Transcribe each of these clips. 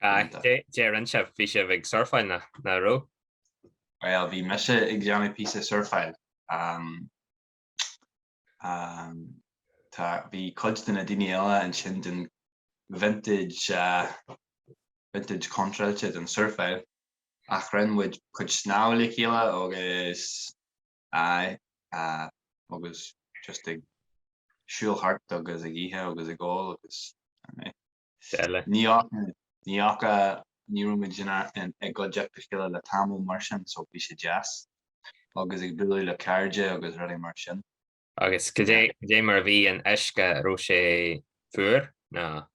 Deir Áine bhí sibh ag surfáil nach raibh? Bhuel bhí mise ag déanamh píosa surfáil. Bhí cuid de na daoine eile ansin den vintage vintage contráilte don surfáil ach rinne muid cuid snámha le chéile agus agus just ag siúl thart agus ag ithe agus ag ól agus is eile. Ní fhaca, ní fhaca, ní raibh muid i gcuideachta a chéile le tamall mar sin so bhí sé deas agus ag bualadh le cairde agus rudaí mar sin. Agus cad é mar a bhí an uisce, an raibh sé fuar nó?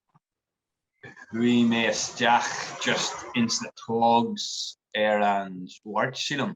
Bhí mé isteach just ins na togs ar an Mháirt sílim.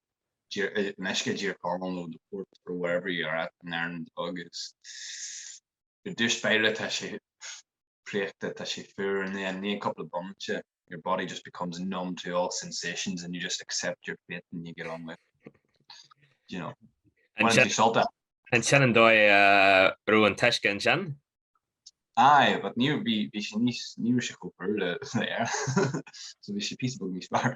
in uisce geothermal nó de port or whatever you are at in Ireland agus i dtús baile tá sé préachta, tá sé fuar and then i ndiaidh cúpla bomaite your body just becomes numb to all sensations and you just accept your fate and you get on with it. You know. An sin sult as. An sin an dóigh a raibh an t-uisce ansin? Aye, but ní bhí bhí sé níos ní bhí sé chomh le Éirinn. So bhí sé píosa beag níos fearr.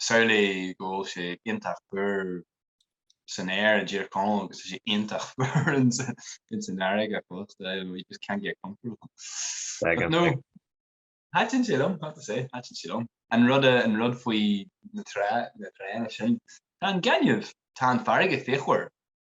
Samhlaigh go bhfuil sé iontach fuar san aer, a deir Conall, agus tá sé iontach fuar ins an fharraige ach fós, we just can't get comfortable. But no, thaitin sé liom, I have to say, thaitin sé liom. An rud, an rud faoi na trá, na trána sin, tá an gaineamh, tá an fharraige fíochmhar,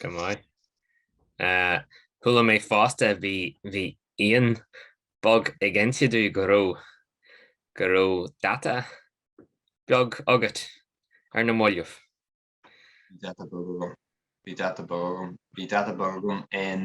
Go maith. Chuala mé fosta bhí bhí aon bog ag inse domh go raibh go raibh data beag agat ar na mallaibh. Bhí data beag agam. Bhí data beag agam. Bhí data beag agam in.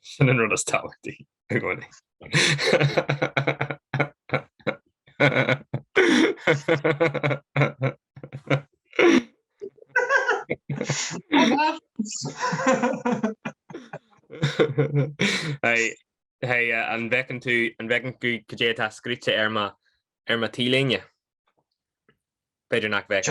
Sin an rud is tábhachtaí i gcónaí. Hey, uh, an bhfeiceann tú an bhfeiceann tú cad é atá scríofa ar mo ar mo T-léine? B'fhéidir nach bhfeic.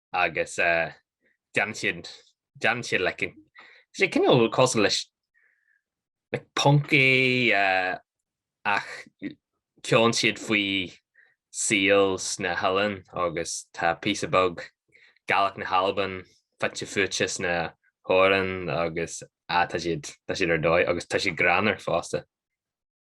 agus déanann siad, déanann siad like tá siad cineál cosúil leis like punk é ach ceolann siad faoi saol sna hoileáin agus tá píosa beag Gaeilge na hAlban fite fuaite sna hamhráin agus ah tá siad, tá siad ar dóigh agus tá siad greannmhar fosta.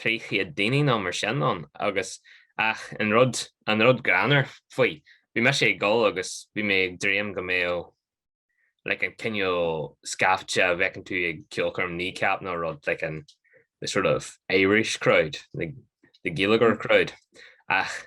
trí chéad daoine nó mar sin ann agus ach an rud, an rud greannmhar faoi, bhí mise ag dul agus bhí mé ag dréim go mbeadh like an cineál scaifte a fheiceann tú ag ceolchoirm Kneecap nó rud like an the sort of Irish crowd, the, the Gaeilgeoir crowd ach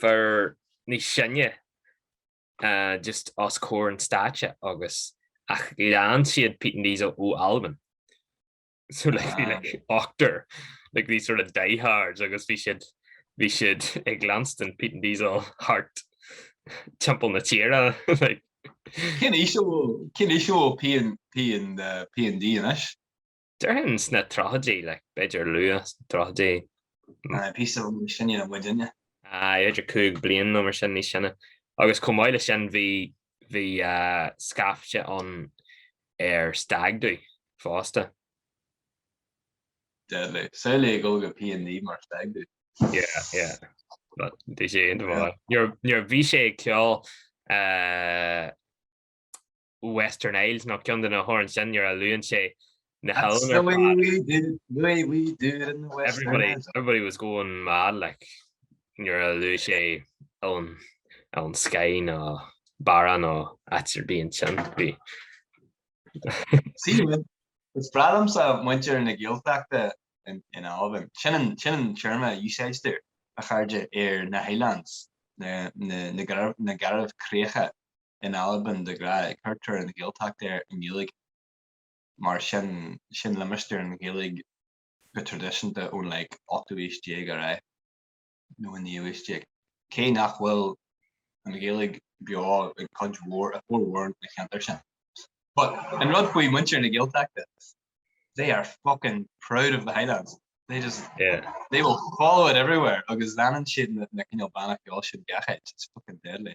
fear níos sine just os comhair an stáitse agus ach lean siad Peat and Diesel ó Albain. So like, bhí like ochtar, like these sort of diehards agus bhí siad bhí siad ag leanstan Peat and Diesel thart timpeall na tíre like. Cén aois, cén aois iad P and P and uh, P and D anois? Déarfainn sna tríochaidí, like, b'fhéidir luath sna tríochaidí. Aye, píosa rud níos sine ná muidinne. Aye, idir cúig bliain nó mar sin níos sine. Agus chomh maith le sin bhí bhí uh, scaifte ann ar stag do fosta. Deadly. Saile ag go pian ní mar stag do. Yeah, yeah. But dé sé inhá. Nuair a bhí sé ag ceol uh, Western Isles nó ceann de na hamhráin sin nuair a luann sé na hOileáin ar fad. That's the way we do, the way we do it in the Western Isles. Everybody, everybody was going mad like nuair a luaigh sé Oileán, ón Skye nó Barra nó áit ar bith ansin. Bhí. See, man, is breá liomsa muintir na Gaeltachta in, in Albain. Sin an, sin an téarma a úsáidtear, a chairde, ar na Highlands, na, na, na, na Garbhchríocha. in Albain de ghnáth tugtar an Ghaeltacht air i nGaeilge mar sin, sin limistéar na Gaeilge go traidisiúnta ón like ochtú aois déag ar aghaidh nó an naoú aois déag. Cé nach bhfuil an Ghaeilge beo i gcuid mhór, i bhformhór na gceantar sin. But an rud faoi muintir na Gaeltachta, they are fucking proud of the Highlands, they just, yeah, they will follow it everywhere agus leanann siad na cineál banna ceoil sin gach áit, it's fucking deadly.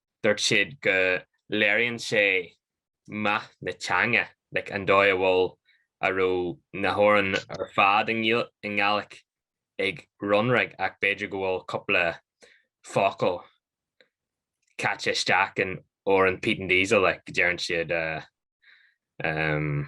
dúirt siad go léiríonn sé meath na teanga, like an dóigh a bhfuil, a raibh na hamhráin ar fad i nGàidhlig ag Runrig ach b'fhéidir go bhfuil cúpla focal caite isteach in amhrán Peat and Diesel, like deireann siad, eh, em.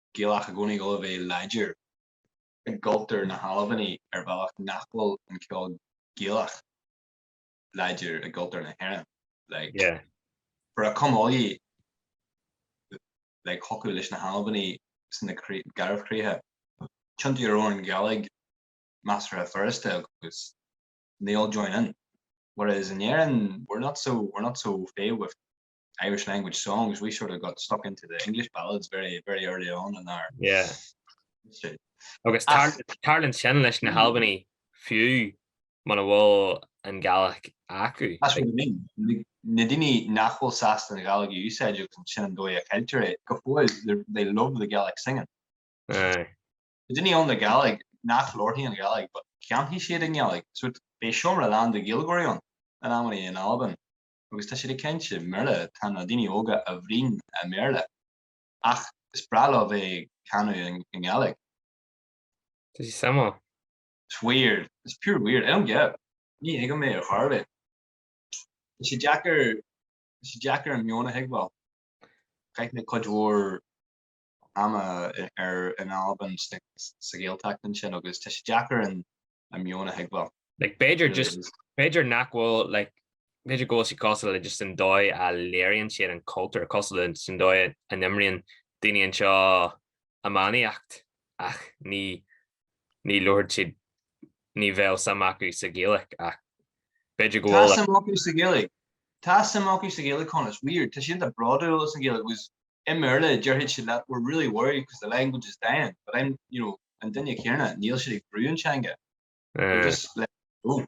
Gaelach i gcónaí ag gabháil a bheith láidir i gcultúr na hAlbanach ar bhealach nach bhfuil an ceol Gaelach láidir i gcultúr na hÉireann. Like, for a come all ye, like, thiocfadh leis na hAlbanaigh sna Garbhchríocha tiontú ar amhrán Gaeilge measartha furasta agus they all join in. Whereas in Éirinn we're not so, we're not so au fait with. Irish language songs, we sort of got stuck into the English ballads very, very early on in our yeah. history. Agus tarlaíonn sin leis na hAlbanaigh fiú mura bhfuil an Ghaeilge acu. That's what I mean. Na daoine nach bhfuil sásta an Ghaeilge a úsáid agus sin an dóigh a gceiltear é go fóill they love the Gaelic singing. Aye. Na daoine óga Gaeilge ní labharfaidh siad Gaeilge but canfaidh siad i nGaeilge so beidh seomra lán de Ghaeilgeoirí ann in amanna in Albain. agus tá siad ag caint i mBéarla, tá na daoine óga ag bruíon i mBéarla, ach is breá leo bheith ag canadh i nGaeilge. Tá suim acu. It's weird. It's pure weird. I don't get it. Ní thuigim mé ar chor ar bith. Tá sé deacair, tá sé deacair an meon a thuigbheáil. Chaith mé cuid mhór ama ar in Albain sa Ghaeltacht ansin agus tá sé deacair an meon a thuigbheáil. Like b'fhéidir just b'fhéidir nach bhfuil like b'fhéidir go bhfuil sí cosúil le just an dóigh a léiríonn siad an cultúr cosúil le just an dóigh a n-imríonn daoine anseo iománaíocht ach ní ní labhraíonn siad ní bheadh suim acu sa Ghaeilge ach b'fhéidir go bhfuil Tá suim acu sa Ghaeilge Tá suim acu sa Ghaeilge Cos it's weird tá siad an-bhródúil as an Ghaeilge agus I mBéarla, déarfaidh siad leat we're really worried because the language is dying, but I'm, you know, an duine céanna, níl siad ag brú an teanga, they're just letting it go.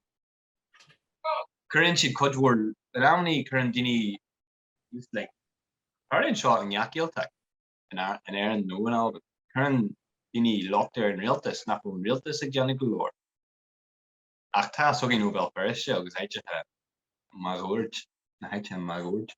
Cuireann siad cuid mhór, in amannaí cuireann daoine, just like, tharlaíonn seo i ngach Gaeltacht, in Éirinn nó in Albain, cuireann daoine locht ar an rialtas nach bhfuil an rialtas ag déanamh go leor. Ach tá a fhios againn ó Bhéal Feirste agus áiteacha máguaird, na háiteacha máguaird.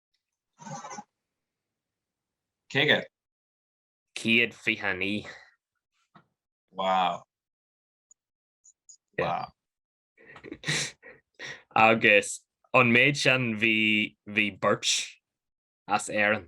Céad. 129. Wow. Yeah. Wow. Agus an méid sin bhí bhí beirt as Éirinn.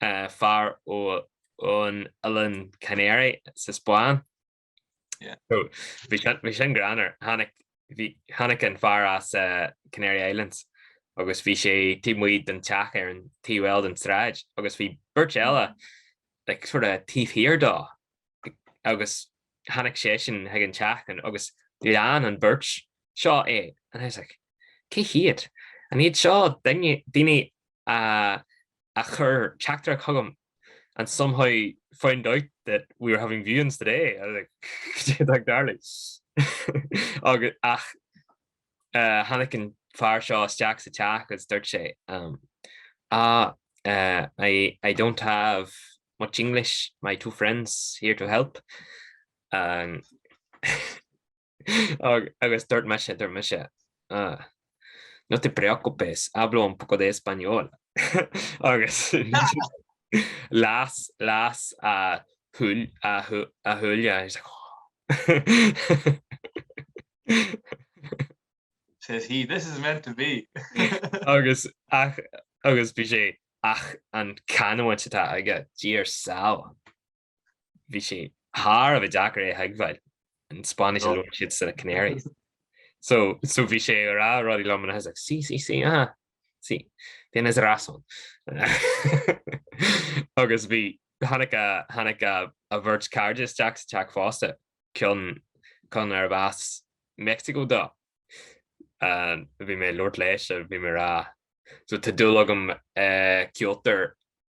fear ón Oileán Canary sa Spáinn. Bhí sin greannmhar. Tháinig an fear as Canary Islands agus bhí sé taobh amuigh den teach ar an taobh eile den tsráid agus bhí beirt eile sort of taobh thiar dó agus tháinig seisean chuig an teach agus lean an bheirt seo é and I was like Cé hiad? An iad seo daoine a chuir teachtaireacht chugam and somehow found out that we were having viewings today? I was like, goidé atá ag tarlú. Ach tháinig an fear seo isteach sa teach agus dúirt sé, Ah, I don't have much English, my two friends here to help. Agus dúirt mise, dúirt mise, Ah, no te preocupes, hablo un poco de español. Agus las, las a shúile agus mise, says he, this is meant to be. Agus, ach, agus bhí sé, ach an canúint atá aige, Dia ár sábháil. bhí sé thar a bheith deacair é a thuigbheáil, an Spáinnis a labhair siad sna Canaries. So, so bhí sé ag rá rudaí liom and I was like, sí, sí, sí, aha, sí, tienes razón. Agus bhí, tháinig a, tháinig a, a bheirt cairde isteach sa teach fosta, cionn, cionn arb as Meicsiceo dó. Bhí mé ag labhairt leis, bhí mé ag rá, ó tá dúil agam i gceoltóir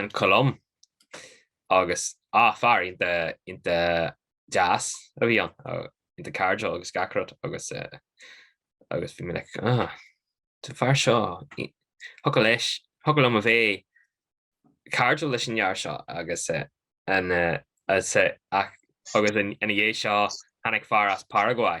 ón Cholóim agus ah fear ionta ionta deas a bhí ann ionta cairdiúil agus gach rud agus agus bhí mé like ah an fear seo thiocfadh leis thiocfadh liom a bheith cairdiúil leis an fhear seo agus an agus ina dhiaidh seo tháinig fear as Paraguay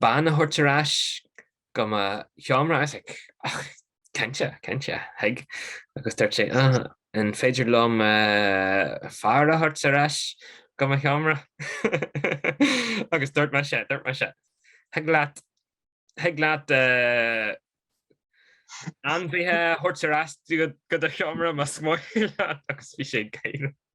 bean a thabhairt ar ais go mo sheomra, tá's agat. Ach cinnte, cinnte, thig, agus dúirt sé, Ugh, an féidir liom fear a thabhairt ar ais go mo sheomra? Agus dúirt mise, dúirt mise, Thig leat, thig leat ainmhithe a thabhairt ar ais go do sheomra más maith leat. Agus bhí sé ag gáire.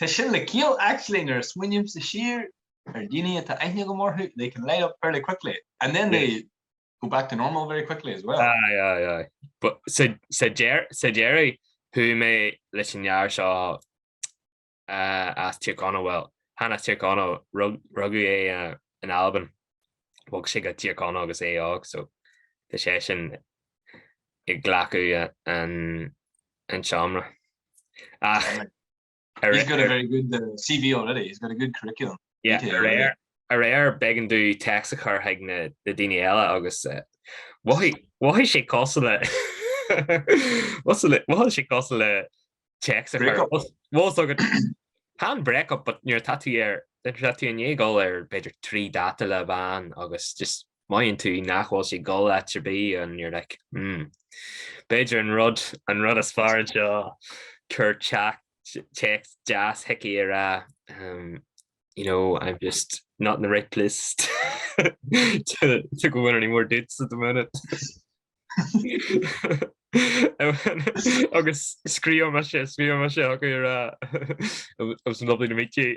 Tá sin le ciall, actually nuair a smaoinimse siar ar dhaoine a bhfuil aithne agam orthu, they can light up fairly quickly and then they go back to normal very quickly as well. Aye, aye, aye. But sa deireadh chuaigh mé leis an fhear seo as Tír Chonaill, bhuel, chan as Tír Chonaill, rugadh é in Albain, bhog sé go Tír Chonaill agus é óg so tá sé sin ag glacadh an an tseomra. Ach ar. He's got a very good uh, CV already, he's got a good curriculum. Yeah, ar ar, arbh éigean duit téacs a chur chuig na daoine eile agus uh, bhí sé cosúil le bhí sé cosúil le téacs a chur. tá's agat chan break up but nuair atá tú ar atá tú i ndiaidh gabháil ar b'fhéidir trí data le bhean agus just Mothaíonn tú nach bhfuil sé ag dul áit ar bith and you're like, hmm, b'fhéidir an rud, an rud is fearr anseo, cuir téacs deas chuici ag rá, um, you know, I'm just not in the right place to, to go on any more dates at the minute. agus scríobh mise, scríobh mise chucu ag rá, it was lovely to meet you.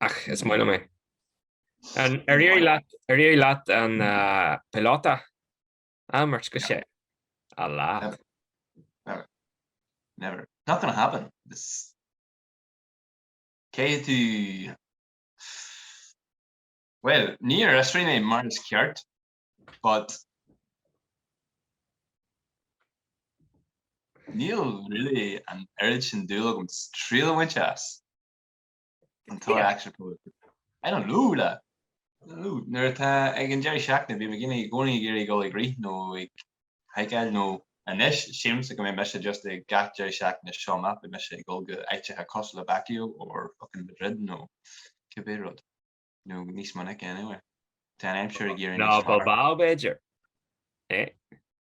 Ach is maith liom é. Ar éirigh leat an Pelota? Ah, a mhic, go sé. A lad. Never. Never. Not gonna happen. Cé tú? Bhuel, níor fhiosraigh mé mar is ceart, but níl really an oiread sin dúil agam triail a bhaint as. An tá eagsir pósta. An an lú le? Lú, nuair atá ag an deireadh seachtaine bhí McGinley i gcónaí ag iarraidh dhul ag rith nó ag haiceáil nó anois sílimse go mbeidh mise just ag gach deireadh seachtaine seo amach beidh mise ag dul go háiteacha cosúil le Baguio or fucking Madrid nó cibé rud. Nó níos minice anyway. Tá an aimsir ag éirí níos Ná Bilbao b'fhéidir? Eh?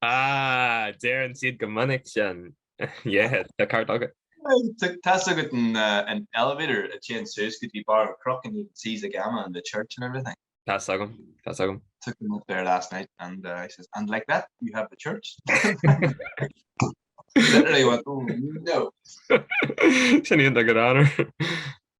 Ah, deireann siad go minic sin. Yeah, tá an ceart agat. Tá agat an elevator a téann suas go dtí barr an chnoc and you can see the gamma and the church and everything. Tá agam, tá agam. Took them up there last night and he says, and like that you have the church. Literally went, oh no. Sin í an dá go dtáinar.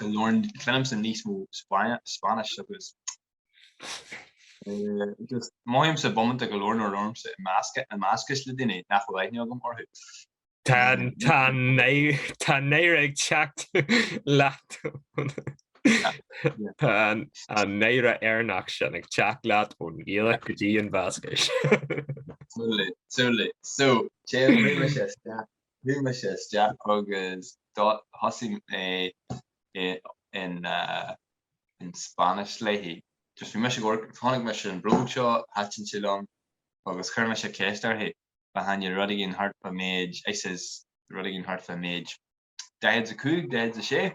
go leor cluinimse níos mó Spáinnis agus just mothaímse bomaite go leor náire ormsa i measc i mBascais le daoine nach bhfuil aithne agam orthu. Tá tá tá náire ag teacht leat Tá an náire airneach sin ag teacht leat ón Ghaeilge go dtí an Bhascais. Súil linn, súil linn. So, téann muid leis Chuaigh mise isteach agus thosaigh mé in Spanish léi. Just bhí mise ag, chonaic mise an bhróg seo, thaitin sé liom agus chuir mise ceist uirthi, ba mhaith liom rud éigin thart fá méid, I says rud éigin thart fá méid 45, 46.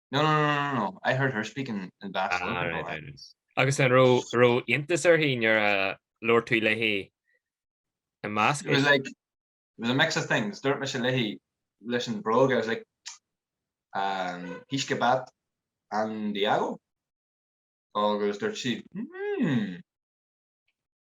No, no, no, no, no, I heard her speaking Basque Ah, right, right, right. Agus an raibh raibh iontas uirthi nuair a labhair tú léi i mBascais? It was like, it was a mix of things, dúirt mise léi leis an bhróg, I was like, um, he's kebab and Diago? Agus dúirt sí, hmm.